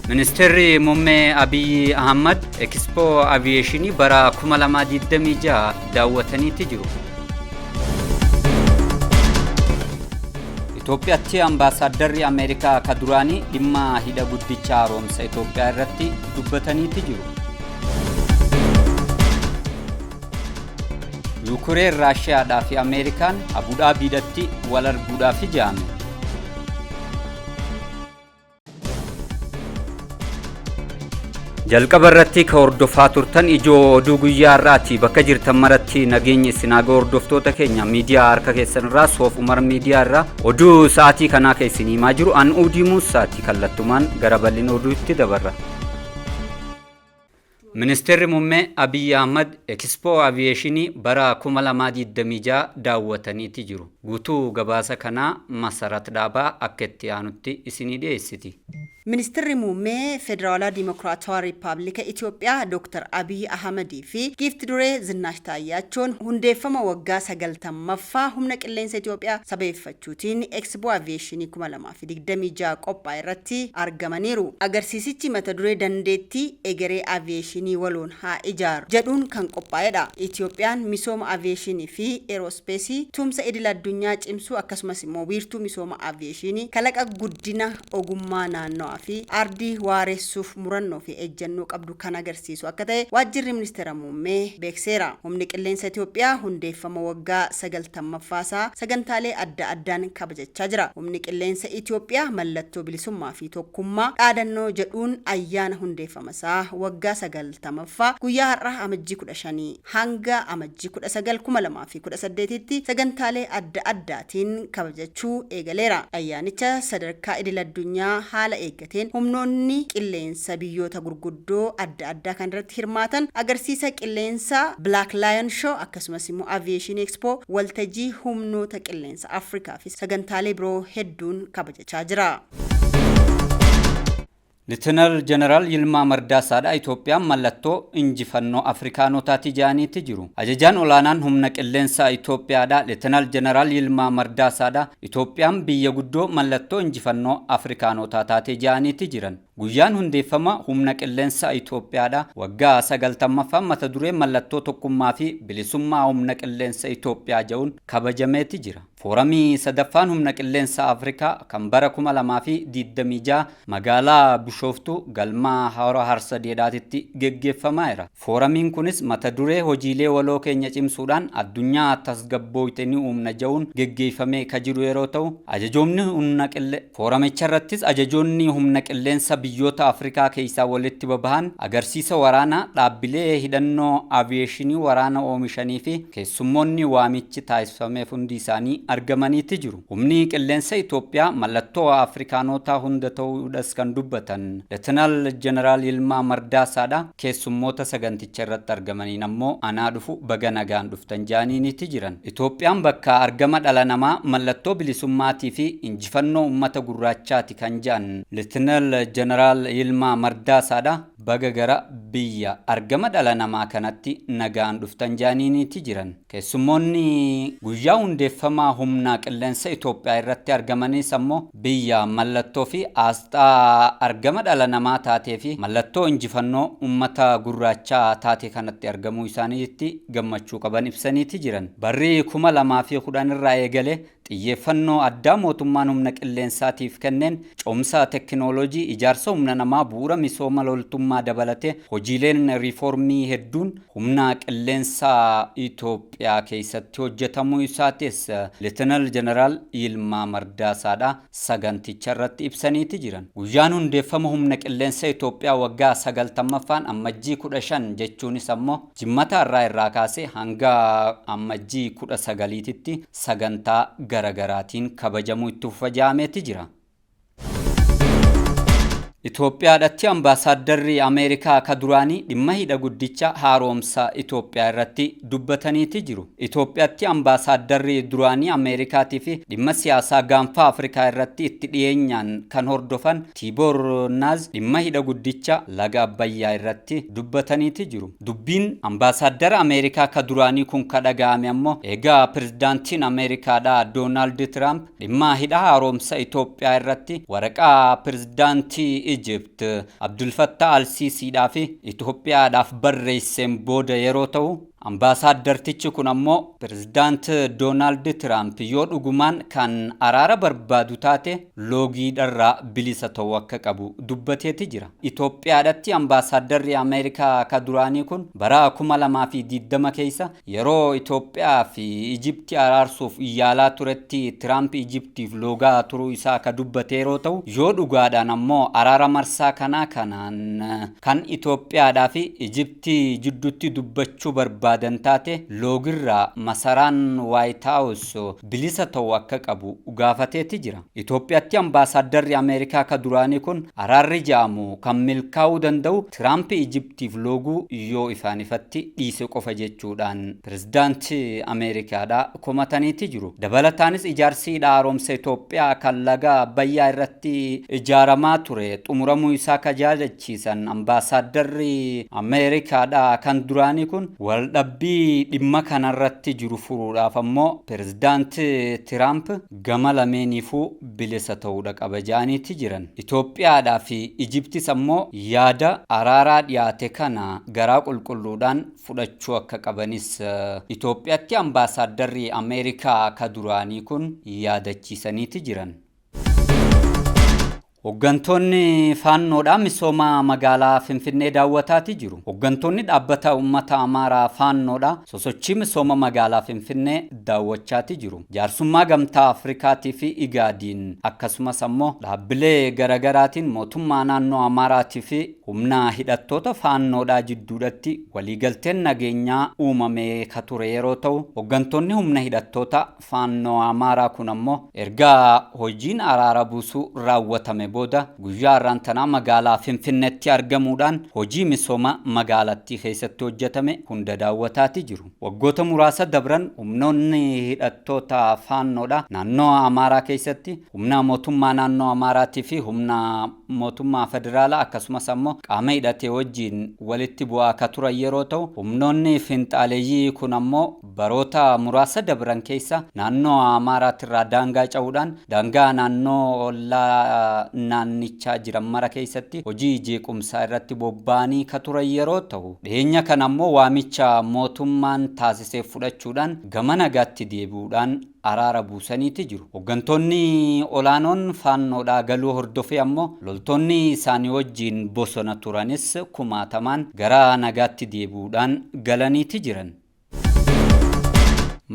Ministeerri Muummee Abiyyi Ahmad Ekspoo Aviyeeshinii bara 2026 daawwataniitti jiru. Itoophiyaatti ambaasaaddarri Ameerikaa ka duraanii dhimma hidha guddicha haaromsa Itoophiyaa irratti dubbataniitti jiru. Yuukureen Raashiyaadhaa fi Ameerikaan Abudaabiidhatti wal arguudhaaf ijaame. Jalqaba irratti ka hordofaa turtan ijoo oduu guyyaa har'aati bakka jirtan maratti nageenyi isin haa ga'u hordoftoota keenya miidiyaa harka keessan irraa soof umar miidiyaa irraa oduu sa'aatii kanaa ka isin himaa jiru an uudii muusaati kallattumaan gara bal'ina oduutti dabarra. Ministirri Mummee Abiy Ahmad Ekispoo Aviyeeshinii bara 2026 daawwataniiti jiru. Guutuu gabaasa kanaa Masarat Dhaabaa akka itti aanutti isinii dhiyeessiti. Ministirri Muummee Federaalaa Dimokiraatawaa Rippaablika Itoophiyaa Dooktar Abiy Ahmad fi Giifti Duree Zinnaash Taayyaachoon hundeeffama waggaa 90ffaa Humna Qilleensa Itoophiyaa sabeeffachuutiin Ekspoo Aviyeeshinii 2026 fi 26 qophaa'e irratti argamaniiru. Agarsiisichi mata duree Dandeettii Egeree Aviyeeshinii Waloon Haa Ijaaru jedhuun kan qophaa'edha. Itiyoophiyaan misooma aviyeeshinii fi eeroospeesii tumsa idil addunyaa cimsuu akkasumas immoo wiirtuu misooma aviyeeshiinii kalaqa guddina ogummaa naannawaa fi ardii waareessuuf murannoo fi ejjennoo qabdu kan agarsiisu akka ta'e Waajjirri Ministeera Muummee beekseera. Humni Qilleensa Itiyoophiyaa hundeeffama waggaa 90ffaa isaa sagantaalee adda addaan kabajachaa jira. jechaa jira. Humni Qilleensa Itoophiyaa mallattoo bilisummaa fi tokkummaa dhaadannoo jedhuun ayyaana hundeeffama isaa waggaa 90ffaa guyyaa har'aa Amajjii 15 hanga Amajjii 19, 2018tti sagantaalee adda addaatiin kabajachuu eegaleera. Ayyaanicha sadarkaa idil-addunyaa haala eeggateen humnoonni qilleensa biyyoota gurguddoo adda addaa kan irratti hirmaatan, agarsiisa qilleensaa Black Lion Show akkasumas immoo Aviation Expo, waltajii humnoota qilleensaa, Arts Africa fi sagantaalee biroo hedduun kabajachaa jira. Litenar Jeneraal Yilmaa Mardaasaadha Itoophiyaan mallattoo injifannoo Afrikaanotaati jedhaniiti jiru. Ajajaan olaanaan humna qilleensaa Itoophiyaadha Litenar Jeneraal Yilmaa Mardaasaadha Itoophiyaan biyya guddoo mallattoo injifannoo Afrikaanotaa taate jedhaniiti jiran. Guyyaan hundeeffama Humna Qilleensa Itoophiyaadha. Waggaa 90ffaan mata duree Mallattoo Tokkummaa fi Bilisummaa Humna Qilleensa Itoophiyaa ja'uun kabajameeti jira. Fooramii 3ffaan Humna Qilleensa Afrikaa kan bara 2026 magaalaa Bishooftuu galma Hora Harsadeedhaatitti geggeeffamaa'era. Fooramiin kunis mata duree Hojiilee waloo keenya cimsuudhaan addunyaa tasgabbooyte ni uumna ja'uun geggeeyfamee ka jiru yeroo ta'u, ajajoomni humna qille Fooramicharrattis ajajoonni humna qilleensa biyyoota Afrikaa keeysaa walitti babahan agarsiisa waraanaa, dhaabbilee hidhannoo Aviyeeshinii waraana oomishanii fi keessummoonni waamichi taasfameef hundi isaanii argamanii ti jiru. Humni Qilleensa Itoophiyaa mallattoo Afrikaanootaa hunda ta'uu dhas kan dubbatan Letenal Jeneraal Yilmaa Mardaasaa dha. Keessummoota saganticha irratti argamaniin ammoo anaa dhufu baga nagaan dhuftan jaaniiniti jiran. Itoophiyaan bakka argama dhala namaa, mallattoo bilisummaatiifi injifannoo ummata gurraachaati kan ja'an Litnal Janaraal Yilmaa Mardaasaadha. Baga gara biyya argama dhala namaa kanatti nagaan dhuftan jaaniiniti jiran. Keessummoonni guyyaa hundeeffamaa humnaa qilleensa Itoophiyaa irratti argamaniis ammoo biyya mallattoo fi aasxaa argama dhala namaa taatee fi mallattoo injifannoo ummata gurraachaa taate kanatti argamuu isaaniitti gammachuu qaban ibsaniiti jiran. Barri 2010 irraa eegalee Xiyyeeffannoo addaa mootummaan humna qilleensaatiif kenneen cehumsa tekinooloojii, ijaarsa humna namaa, bu'uura misooma loltummaa dabalatee hojiileen riifoormii hedduun humna qilleensaa Itoophiyaa keessatti hojjetamuu isaatis Leetenal Jeneraal Yilmaa Mardaasaadha saganticharratti ibsaniiti jiran. Guyyaan hundeeffama humna qilleensa Itoophiyaa waggaa 90ffaan Ammajjii 15 jechuunis ammoo, Jimmata har'aa irraa kaasee hanga Ammajjii 19 titti sagantaa gara garaatiin kabajamuu itti fufa jedhameeti jira. Itoophiyaadhatti Ambaasaaddarri Ameerikaa ka duraanii dhimma hidha guddicha haaroomsa Itoophiyaa irratti dubbataniiti jiru. Itoophiyatti Ambaasaaddarri duraanii Ameerikaatiifi dhimma siyaasaa Gaanfa Afrikaa irratti itti dhiyeenyaan kan hordofan Tiiboor Naaz dhimma hidha guddicha laga Abbayyaa irratti dubbataniiti jiru. Dubbiin Ambaasaaddara Ameerikaa ka duraanii kun ka dhaga'ame ammoo eega Pirezidaantiin Ameerikaadhaa Doonaald Tiraamp dhimma hidha haaroomsa Itoophiyaa irratti waraqaa Pirezidaantii Ijipt Abdulfattaa Alsiisiidhaafi Itoophiyaadhaaf barreesseen booda yeroo tahu, Ambaasaaddartichi kun ammoo Pirezidaant Doonaald Tiraamp yoo dhugumaan kan araara barbaadu taate, loogii dharraa bilisa ta'uu akka qabu dubbateeti jira. Itoophiyaadhatti Ambaasaaddarri Ameerikaa ka duraanii kun bara 2020 keessa yeroo Itoophiyaa fi Ijipti araarsuuf yaalaa turetti Tiraamp Ijiptiif loogaa turuu isaa ka dubbate yeroo ta'u, yoo dhugaadhaan ammoo araara marsaa kanaa kanaan kan Itoophiyaadhaa fi Ijipti jidduutti dubbachuu barbaadan taate loogirraa masaraan Waayit Haawus bilisa ta'uu akka qabu gaafateeti jira. Itoophiyatti ambaasaaddarri Ameerikaa ka duraanii kun araarri ja'amu kan milkaa'uu danda'u Tiraampi Ijiptiif looguu yoo ifaan ifatti dhiise qofa jechuudhaan pirezidaanti Ameerikaadhaa komataniiti jiru. Dabalataanis ijaarsi hidha haaromsa Itoophiyaa kan laga Abbayyaa irratti ijaaramaa ture xumuramuu isaa ka yaadachiisan ambaasaaddarri Ameerikaadhaa kan duraanii kun waldhabbii dhimma kanarratti jiru furuudhaaf ammoo Pirezidaant Tiraamp gama lameeniifuu bilisa ta'uudha qaba jedhaniiti jiran. Itoophiyaadhaa fi Ijiptis ammoo yaada araaraa dhiyaate kana garaa qulqulluudhaan fudhachuu akka qabanis Itoophiyatti ambaasaaddarri Ameerikaa ka duraanii kun yaadachiisaniiti jiran. Hoggantoonni Faannoodha misooma magaalaa Finfinnee daawwataati jiru. Hoggantoonni dhaabbata uummata Amaaraa Faannoodha sosochii misooma magaalaa Finfinnee daawwachaati jiru. Jaarsummaa Gamtaa Afrikaatii fi Igaadiin akkasumas ammoo dhaabbilee garagaraatiin mootummaa naannoo Amaaraatii fi humna hidhattoota Faannoodhaa jidduudhatti waliigalteen nageenyaa uumamee ka ture yeroo ta'u, hoggantoonni humna hidhattoota Faannoo Amaaraa kun ammoo erga hojiin araara buusuu raawwatame booda guyyaa har'aan tanaa magaalaa Finfinneetti argamuudhaan hojii misooma magaalattii keessatti hojjatame hunda daawwataati jiru. Waggoota muraasa dabran humnoonni hidhattoota Faannoodha naannoo Amaaraa keessatti humna mootummaa naannoo Amaaraatii fi humna mootummaa federaalaa akkasumas ammoo qaama hidhatee wajjiin walitti bu'aa ka turan yeroo ta'u, humnoonni finxaaleyyii kun ammoo Baroota muraasa dabran keessa naannoo Amaaraatirraa daangaa ca'uudhaan daangaa naannoo ollaa naannichaa jiran mara keessatti hojii jeequmsaa irratti bobba'anii ka turan yeroo tahu, dhiheenya kana ammoo waamicha mootummaan taasiseef fudhachuudhaan gama nagaatti deebi'uudhaan araara buusaniiti jiru. Hoggantoonni olaanoon Faannoodhaa galuu hordofee ammoo loltoonni isaanii wajjiin bosona turanis kumaatamaan gara nagaatti deebi'uudhaan galaniiti jiran.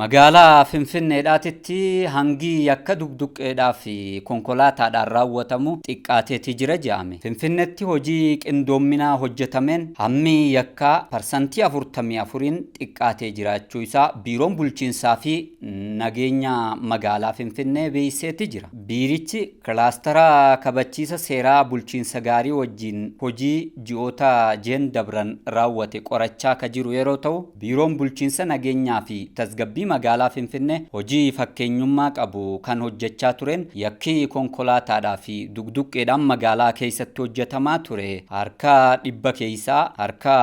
Magaalaa Finfinneedhaatitti hangi yakka duqduqqeedhaa fi konkolaataadhaan raawwatamu xiqqaateeti jira jedhame. Finfinneetti hojii qindoomminaa hojjetameen hammi yakkaa parsantii 44n xiqqaatee jiraachuu isaa Biiroon Bulchiinsaa fi Nageenya Magaalaa Finfinnee beeksiseeti jira. Biirichi Kilaastara kabachiisa seeraa bulchiinsa gaarii wajjiin hojii ji'oota Jen dabran raawwate qorachaa ka jiru yeroo ta'u, Biiroon Bulchiinsa Nageenyaa fi Tasgabbii Magaalaa Finfinnee hojii fakkeenyummaa qabu kan hojjechaa tureen yakki konkolaataadhaa fi duqduqqeedhaan magaalaa keessatti hojjetamaa ture harka dhibba keessaa harka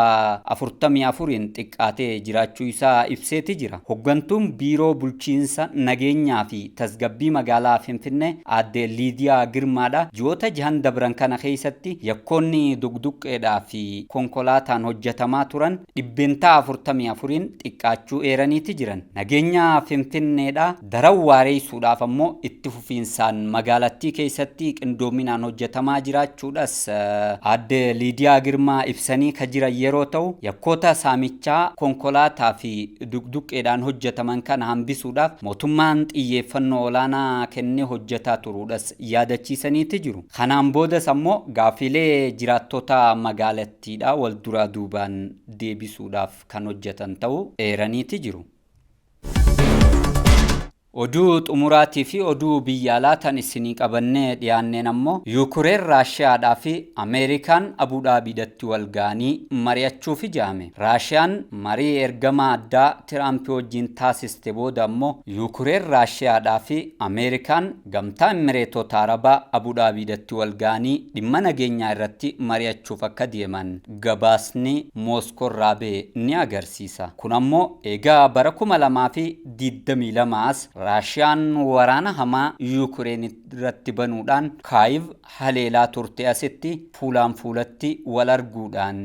44n xiqqaatee jiraachuu isaa ibseeti jira. Hoggantuun Biiroo Bulchiinsa Nageenyaa fi Tasgabbii magaalaa Finfinnee Aadde Liidiyaa Girmaadha. Ji'oota jahan dabran kana keessatti yakkoonni duqduqqeedhaa fi konkolaataan hojjetamaa turan dhibbeentaa 44n xiqqaachuu eeraniiti jiran. Nageenya Finfinneedha daran waareessuudhaaf ammoo itti fufiinsaan magaalattii keessatti qindoominaan hojjetamaa jiraachuudhas Aadde Liidiyaa Girmaa ibsanii ka jiran yeroo ta'u, yakkoota saamichaa konkolaataa fi duqduqqeedhaan hojjetaman kana hambisuudhaaf mootummaan xiyyeeffannoo olaanaa kennee hojjetaa turuudhas yaadachiisaniiti jiru. Kanaan boodas ammoo gaaffiilee jiraattota magaalattiidhaa walduraa duubaan deebisuudhaaf kan hojjetan ta'uu eeraniiti jiru. Oduu xumuraatii fi oduu biyya alaa tan isinii qabannee dhiyaanneen ammoo Yuukureen Raashiyaadhaa fi Ameerikaan Abuu Dhaabiidhatti wal gahanii mari'achuufi ja'ame. Raashiyaan marii ergamaa addaa Tiraampi wajjiin taasiste booda ammoo Yuukureen Raashiyaadhaa fi Ameerikaan Gamtaa Immireetoota Arabaa Abuu Dhaabiidhatti wal gahanii dhimma nageenyaa irratti mari'achuuf akka deeman gabaasni Mooskoorraa bahe ni agarsiisa. Kun ammoo eega bara 2000 fi 22s Raashiyaan waraana hamaa Yuukireen irratti banuudhaan Kaayiv haleelaa turte asitti fuulaan fuulatti wal arguudhaan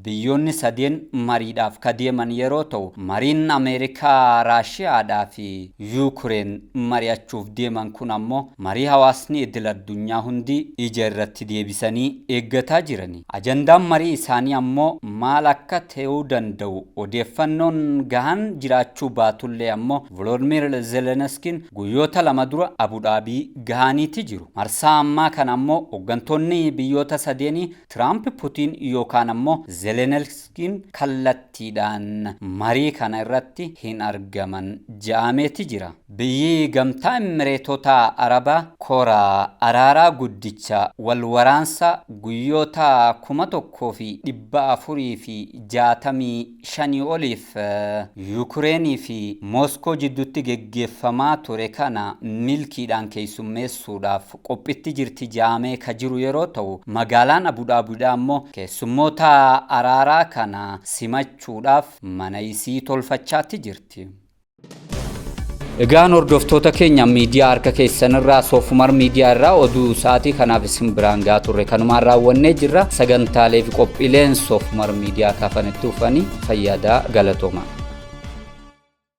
biyyoonni sadeen mariidhaaf ka deeman yeroo ta'u, mariin Ameerikaa, Raashiyaadhaa fi Yuukireen mari'achuuf deeman kun ammoo marii hawaasni idil-addunyaa hundi ija irratti deebisanii eeggataa jiran. Ajandaan marii isaanii ammoo maal akka ta'uu danda'u odeeffannoon gahaan jiraachuu baatullee ammoo Volodmiir Zeleniskiin guyyoota lama dura Abu Dhaabii gahaaniiti jiru. Marsaa ammaa kana ammoo hoggantoonni biyyoota sadeenii Tiraamp Putiin yookaan ammoo Zelenelskiin kallattiidhaan marii kana irratti hin argaman ja'ameeti jira. Biyyi Gamtaa Immireetota Arabaa kora araaraa guddicha wal waraansa guyyoota 1,465 oliif Yukireen fi Mooskoo jidduutti geggeeffamaa ture kana milkiidhaan keessummeessuudhaaf qophitti jirti jedhamee ka jiru yeroo ta'u, magaalaan Abu Dhaabidhaa immoo keessummoota araaraa kana simachuudhaaf mana isii tolfachaatti jirti. Egaan hordoftoota keenya miidiyaa harka keessan irraa soofumar miidiyaa irraa oduu sa'aatii kanaaf isin biraan gaa turre kanumaan raawwannee jirra sagantaalee fi qophiileen soofumar miidiyaa kaafanitti ufanii fayyaadaa galatooma.